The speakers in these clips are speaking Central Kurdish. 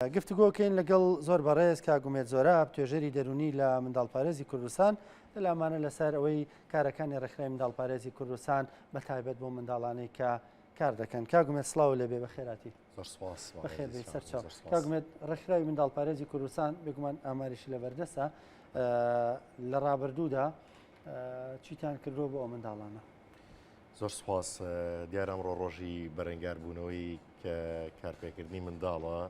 گفتوگۆ کەین لەگەڵ زۆر بەڕێز کاک ئومێد زۆراب توێژەری دەروونی لە منداڵپارێزی کوردستان لەلامانە لەسەر ئەوەی کارەکانی ڕێکخرای منداڵپارێزی کوردستان بە تایبەت بۆ منداڵانەی کە کار دەکەن کاک ئومێد سڵاو لێبێ بە خێراتی زۆر سپاس بەخێر بێی سەر چاو. زۆر سپاس. کاک ئومێد ڕێکخراوی منداڵپارێزی کوردستان بێگومان ئاماریشی لە بەردەستە لە ڕابردوودا چیتان کردووە بۆ ئەو منداڵانە؟ زۆر سوپاس، دیارە ئەمڕۆ ڕۆژی بەرەنگاربوونەوەی کارپێکردنی منداڵە.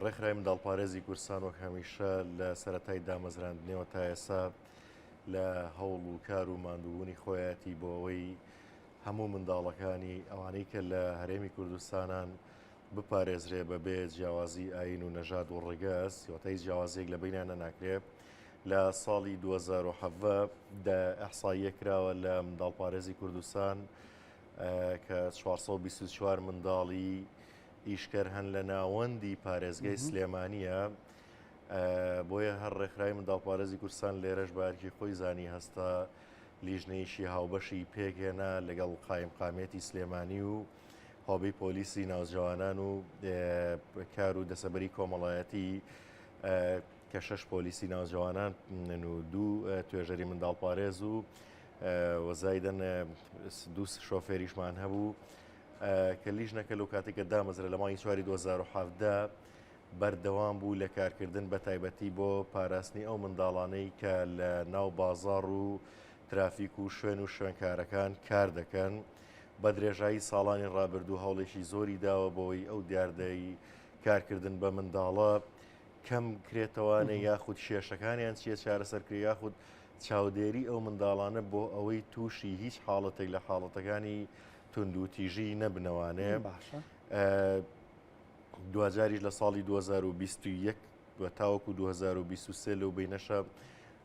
ڕێکخرای منداڵپارێزی کورسان وەک هەمیشە لە سەتای دامەزراندنەوە تا ئێسا لە هەوڵ و کار و ماندووبوونی خۆیەتی بۆ ئەوەی هەموو منداڵەکانی ئەوانەی کە لە هەرێمی کوردستانان بپارێزرێ بەبێ جیاوازی ئاین و نەژاد و ڕگەز سیوەتای جیاوازێک لە بینانە ناکرێت لە ساڵی دوو هەزار و حەڤدە دا ئیحساییە کراوە لە منداڵپارێزی کوردستان کە چوار سەد و بیست و چوار منداڵی ئیشکەر هەن لە ناوەندی پارێزگای سلێمانییە بۆیە هەر ڕێکخرای منداڵپارێزی کوردستان لێرەش بارکی خۆی زانی هەستا لیژنەیەکی هاوبەشی پێکهێنا لەگەڵ قایم قامێتی سلێمانی و هۆبی پۆلیسی ناوجوانان و کار و دەسەبەری کۆمەڵایەتی کە شەش پۆلیسی ناوجەوانان و دوو توێژەری منداڵپارێز و وەزایدن دوو شۆفێریشمان هەبوو کە لیژ نەکەل و کاتێکە دامەزرە لە مای چواری 2017 بەردەوام بوو لە کارکردن بە تایبەتی بۆ پاراستنی ئەو منداڵانەی کە لە ناو بازار و ترافیک و شوێن و شوێنکارەکان کار دەکەن بە درێژایی ساڵانی ڕابردوو هەوڵێکی زۆری داوە بۆی ئەو دیاردەی کارکردن بە منداڵە کەم کرێتەوانێ یاخود کێشەکانیان چیە چارەسەرکرێ یاخود چاودێری ئەو منداڵانە بۆ ئەوەی تووشی هیچ حاڵەتێک لە حاڵەتەکانی توند و تیژی نەبنەوانێ باشە دوجاریش لە ساڵی 2021 و تاوەکو 2023 لەو بینەشە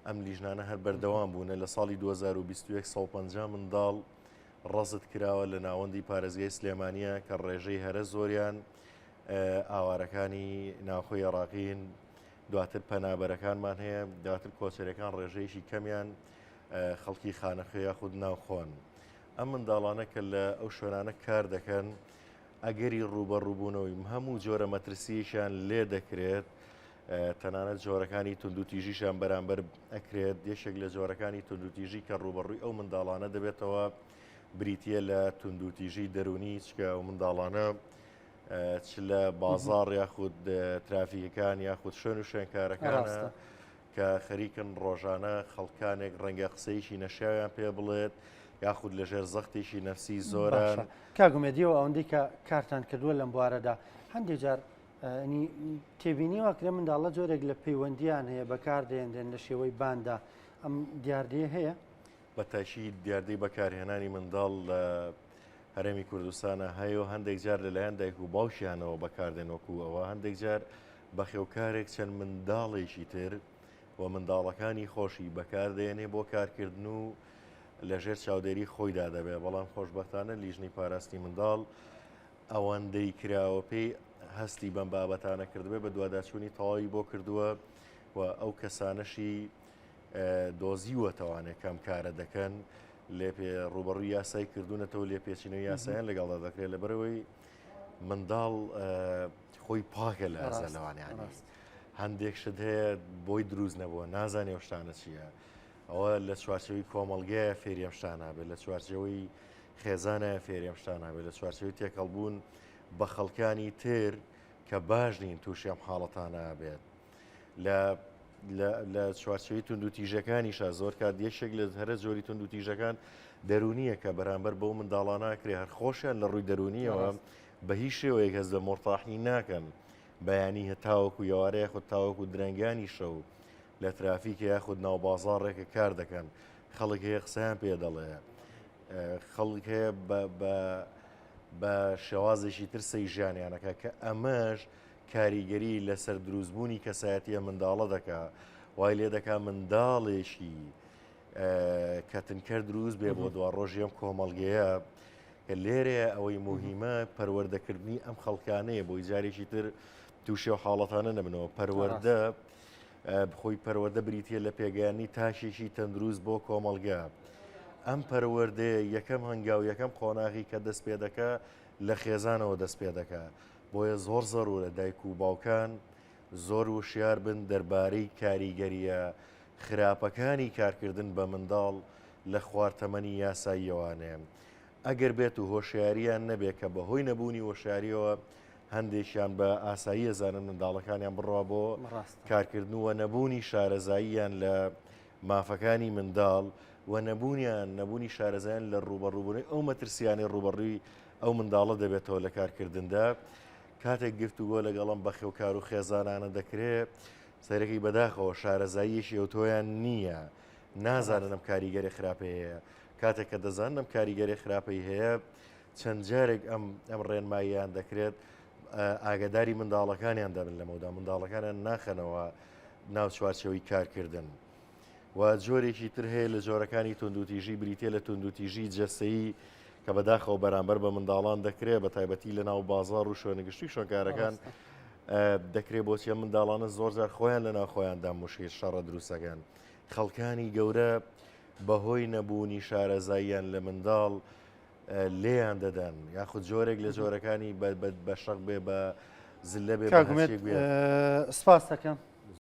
ئەم لیژنانە هەر بەردەوام بوونە لە ساڵی 2021 150 منداڵ ڕەزت کراوە لە ناوەندی پارێزگای سلێمانە کە ڕێژەی هەرە زۆریان ئاوارەکانی ناوخۆی عێڕاقین دواتر پەنابەرەکانمان هەیە دواتر کۆچەرەکان ڕێژەیەکی کەمیان خەڵکی خانەخوێ یاخود ناوخۆن ئەم منداڵانە کە لە ئەو شوێنانە کار دەکەن ئەگەری ڕوبەڕووبوونەوەی هەموو جۆرە مەترسیشان لێ دەکرێت تەنانەت جۆرەکانی تونندوتیژیشان بەرامبەر ئەکرێت یەشێک لە جۆرەکانی تونندوتیژی کە ڕوبەڕووی ئەو منداڵانە دەبێتەوە بریتە لە تونندوتیژی دەرونی چکە و منداڵانە چ لە بازار یاخود ترافیکەکان یاخود شوێن و شوێنکارەکان کە خەریکن ڕۆژانە خەڵکانێک ڕەنگە قسەیشی نەشیاویان پێ بڵێت یاخود لەژێر زەختێکی نەفسی زۆرە کاگومێدیەوە ئەوەندەی کە کارتان کردووە لەم بوارەدا هەندێک جار تێبینی واکرێ منداڵە جۆرێک لە پەیوەندیان هەیە بەکاردێنرێن لە شێوەی باندا ئەم دیاردەیە هەیە بە تاکی دیاردەی بەکارهێنانی منداڵ لە هەرێمی کوردستانە هەیە و هەندێک جار لەلایەن دایک و باوکیانەوە بەکاردێن وەکو ئەوە هەندێک جار بەخێوکارێک چەند منداڵێکی تر و منداڵەکانی خۆشی بەکاردێنێ بۆ کارکردن و لەژێر چاودێری خۆیدا دەبێ بەڵام خۆشببختانە لیژنی پاراستنی منداڵ ئەوەندەی کراوە پێی هەستی بەم بابەتانە کردبێ بە دوواداچوونی تەواوی بۆ کردووە و ئەو کەسانەشی دۆزیوەتەوانێ کام کارە دەکەن لێ ڕوبەڕووی یاسای کردوونەتەوە لێ پێچینە یاسایان لەگەڵدا دەکرێت لە بەرەوەی منداڵ خۆی پاکە لە ئازالەوانیان ڕاست هەندێک شت هەیە بۆی دروست نەبووە نازانێ شتانە چییە ئەوە لە چوارچەوەی کۆمەلگەیە فێریەم شتانە بێت لە چوارچەوەی خێزانە فێریەم شتانە بێت لە چوارچەوەی تێکەڵبوون بە خەڵکانی تر کە باش نین تووشیان حاڵەتانە بێت لە لە چوارچوی تونند و تیژەکانیشە زۆر کات یەکێک لە هەرە جۆری تونند و تیژەکان دەرونیە کە بەرامبەر بۆ منداڵانناکرێ هەر خۆشیان لە ڕووی دەرونیەوە بە هیچ شێوەیەک هەز لە مۆرتاحی ناکەن بەیانی هەتاوەکو یوارەیە خود تاوەکو درەنگانی شەو لە ترافیکە یاخود ناو بازارڕێکە کار دەکەن خەڵک هەیە قسەیان پێ دەڵێ خەڵک هەیە بە شێوازێکی تر سەی ژیانیانەکە کە ئەمەش کاریگەری لەسەر دروستبوونی کەسایەتیە منداڵە دەکا وای لێ دەکا منداڵێکی کەتنکەر دروست بێ بۆ دوا ڕۆژی ئەم کۆمەڵگەیە کە لێرێ ئەوەی مهمە پەروەردەکردنی ئەم خەڵکانەیە بۆی جارێکی تر تووشێ و حاڵەتانە نەبنەوە پەروەەردە خۆی پەروەەردە بریتە لە پێگەیانی تاشێکی تەندروست بۆ کۆمەلگا. ئەم پەروەردەیە یەکەم هەنگاو یەکەم قۆناغی کە دەست پێ دەکە لە خێزانەوە دەست پێ دەکە. بۆیە زۆر زەرورە دایک و باوکان زۆر وشیار بن دەربارەی کاریگەرییە خراپەکانی کارکردن بە منداڵ لە خوار تەمەنی یاساییەوانێ ئەگەر بێت و هۆشیارییان نەبێ کە بە هۆی نەبوونی وەشارییەوە هەندێکیان بە ئاسایی ئەزانن منداڵەکانیان بڕوا بۆ کارکردن و نەبوونی شارەزاییان لە مافەکانی منداڵ و نەبوونیان نەبوونی شارەزایان لە ڕوبەڕووبوونی ئەو مەترسیانەی ڕوبەڕووی ئەو منداڵە دەبێتەوە لە کارکردندا کاتێک گفتوگۆ لەگەڵ ئەم بەخێوکار و خێزانانە دەکرێ سەرەکەی بەداخەوە شارەزاییەکی ئەوتۆیان نییە نازانن ئەم کاریگەری خراپەیە هەیە کاتێک کە دەزانن ئەم کاریگەری خراپەی هەیە چەند جارێک ئەم ئەم ڕێنماییان دەکرێت ئاگداری منداڵەکانیان دەبن لەمەدا منداڵەکانیان ناخەنەوە ناو چوارچەوەی کارکردن. و جۆرێکی تر هەیە لە جۆرەکانی توندوتیژی بریتە لە توندوتیژی جەستەیی کە بەداخەوە بەرامبەر بە منداڵان دەکرێت بە تایبەتی لە ناو بازار و شوێنگشتی شوێنکارەکان دەکرێت بۆچیە منداڵانە زۆرجار خۆیان لە ناوخۆیاندا مشیر شەڕە دروستەکەن خەڵکانی گەورە بەهۆی نەبوونی شارەزاییان لە منداڵ لێیان دەدەن یاخود جۆرێک لە جۆرەکانی بە شەق بێ بە زلە بێ سپاس دەکەم